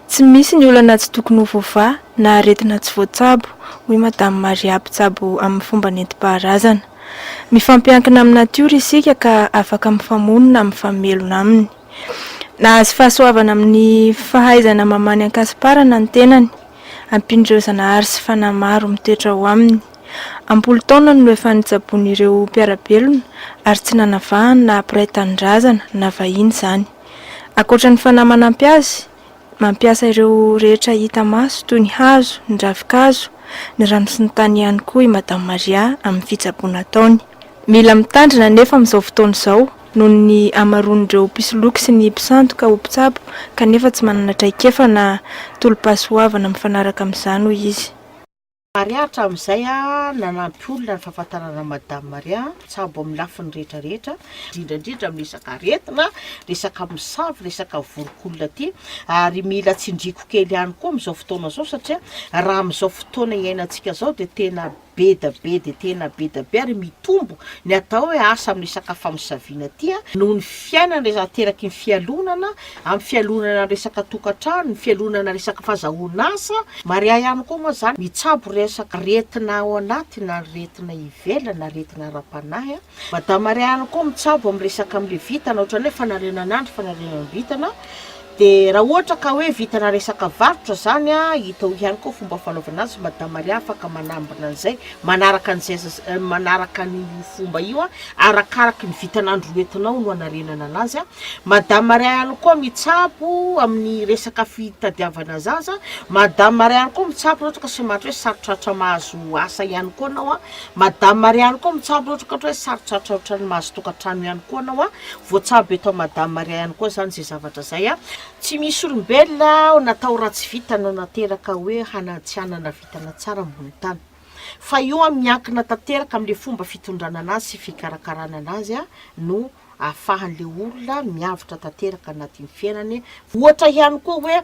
Tsy misy ny olana tsy tokony ho voavaha na aretina tsy voatsabo, hoy Madame Maria mpitsabo amin'ny fomba nentim-paharazana. Mifampiankina amin'ny natiora isika ka afaka mifamono na mifamelona aminy. Nahazo fahasoavana amin'ny fahaizana mamaha ny ankasiparana ny tenany, ampian'ireo zanahary sy fanahy maro mitoetra ao aminy. Am-polo taona no efa nitsaboana ireo mpiara-belona ary tsy nanavahany na mpiray tanindrazana na vahiny izany. Ankoatra ny fanahy manampy azy, mampiasa ireo rehetra hita maso toy ny hazo, ny ravin-kazo, ny rano sy ny tany ihany koa i Madame Maria amin'ny fitsaboana ataony. Mila mitandrina anefa amin'izao fotoana izao noho ny hamaroan'ireo mpisoloky sy ny mpisandoka ho mpitsabo kanefa tsy manana traikefa na tolo-pahasoavana mifanaraka amin'izany, hoy izy. Maria hatramin'izay nanampy olona ny fahafantarana Madame Maria Tsabo amin'ny lafiny rehetra rehetra, indrindra indrindra amin'ny resaka aretina, resaka misavy, resaka voronk'olona ity, ary mila tsindriako kely ihany koa amin'izao fotoana izao satria raha amin'izao fotoana iainantsika izao dia tena be da be dia tena be da be ary mitombo ny atao hoe asa amin'ny resaka famisaviana ity noho ny fiainana ateraky ny fialonana amin'ny fialonana resaka tokantrano, ny fialonana resaka fazahoan'asa, maria ihany koa moa zany mitsabo resaka aretina ao anaty na aretina ivelany na aretina ara-panahy, madame maria ihany koa mitsabo amin'ny resaka amle vintana ohatrany hoe fanarenana andry, fanarenana vintana, de raha ohatra ka hoe vintana resaka varotra zany a, hita ao ihany koa fomba fanaovana azy, madame maria afaka manambina an'izay, manaraka an'izay zaz- manaraka an'io fomba io a, arakaraky ny vintan'andro hoentinao no hanarenana anazy a. Madame Marianne koa mitsabo amin'ny resaka fitadiavana zaza, Madame Marianne koa mitsabo raha ohatra ka sematra hoe sarotrarotra mahazo asa ihany koa anao an, Madame Marianne koa mitsabo raha ohatra hoe sarotrarotra ohatran'ny mahazo tokantrano ihany koa anao an, voatsabo eto Madame Marianne koa zany izay zavatra izay an. Tsy misy olombelona natao ratsy vita nanateraka hoe hana tsy hanana vintana tsara ambony tany, fa io an miankina tanteraka amin'ilay fomba fitondrana anazy sy fikarakarana anazy an no ahafahan'ilay olona miavotra tanteraka anatin'ny fiainany, ohatra ihany koa hoe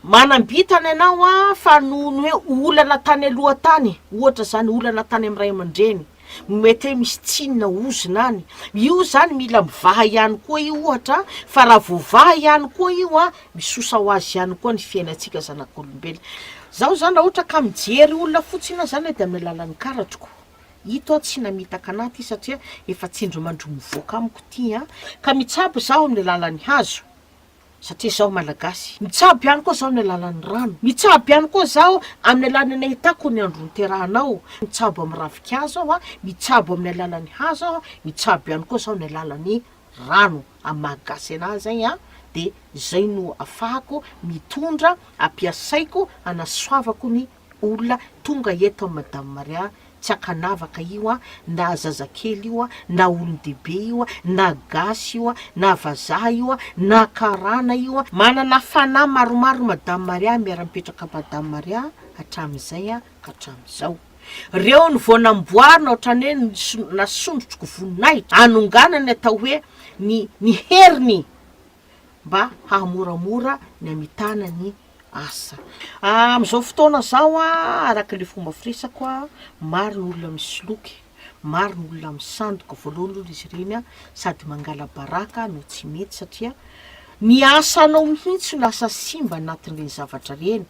manam-bintana ianao a fa noho ny hoe olana tany aloha tany ohatra zany olana tany amin'ny ray aman-dreny no mety hoe misy tsinona ozona any, io zany mila mivaha ihany koa io ohatra a, fa raha voavaha ihany koa io a misosa ho azy ihany koa ny fiainantsika zanak'olombelona, zaho zany raha ohatra ka mijery olona fotsiny aho zany de amin'ny alalan'ny karatroko. Ito aho tsy namitaka anah ty satria efa tsindrimandry mivoaka amiko ty an! Ka mitsabo zaho amin'ny alalan'ny hazo satria zaho malagasy. Mitsabo ihany koa zaho ny alalan'ny rano. Mitsabo ihany koa zaho amin'ny alalan'ny nahitako ny andro niterahanao. Mitsabo amin'ny ravinkazo aho an! Mitsabo amin'ny alalan'ny hazo aho an! Mitsabo ihany koa zaho ny alalan'ny rano. Amin'ny maha gasy anah izay an! Dia izay no afahako mitondra, ampiasaiko hanasoavako ny olona tonga eto amin'i Madame Maria tsy ankanavaka io an, na zazakely io an, na olon-dehibe io an, na gasy io an, na vazaha io an, na karana io an, manana fanahy maromaro Madame Maria miara-mipetraka Madame Maria hatramin'izay an, ka hatramin'izao. Reony vao namboarina ohatrany hoe nisy nasondrotroko voninahitra hanonganany atao hoe ny ny heriny mba hahamoramora ny hamitana ny Asa. Amin'izao fotoana izao a, araka ilay fomba firesako a, maro ny olona misoloky, maro ny olona misandoka, voalohany aloha izy ireny a, sady mangala-baraka no tsy mety satria ny asanao mihitsy no lasa simba anatin'ireny zavatra ireny.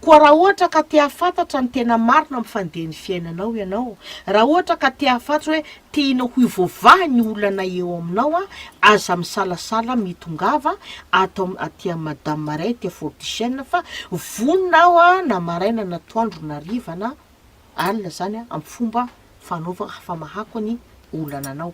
Koa raha ohatra ka te hahafantatra ny tena marina amin'ny fandehan'ny fiainanao ianao, raha ohatra ka te hahafantatra hoe Tianao ho voavaha ny olana eo aminao an, aza misalasala mitongava ato aty am madame maria aty a fort du chene fa vonona aho a na maraina na atoandro na hariva na alina zany a am fomba fanaova hafamahako ny olana anao.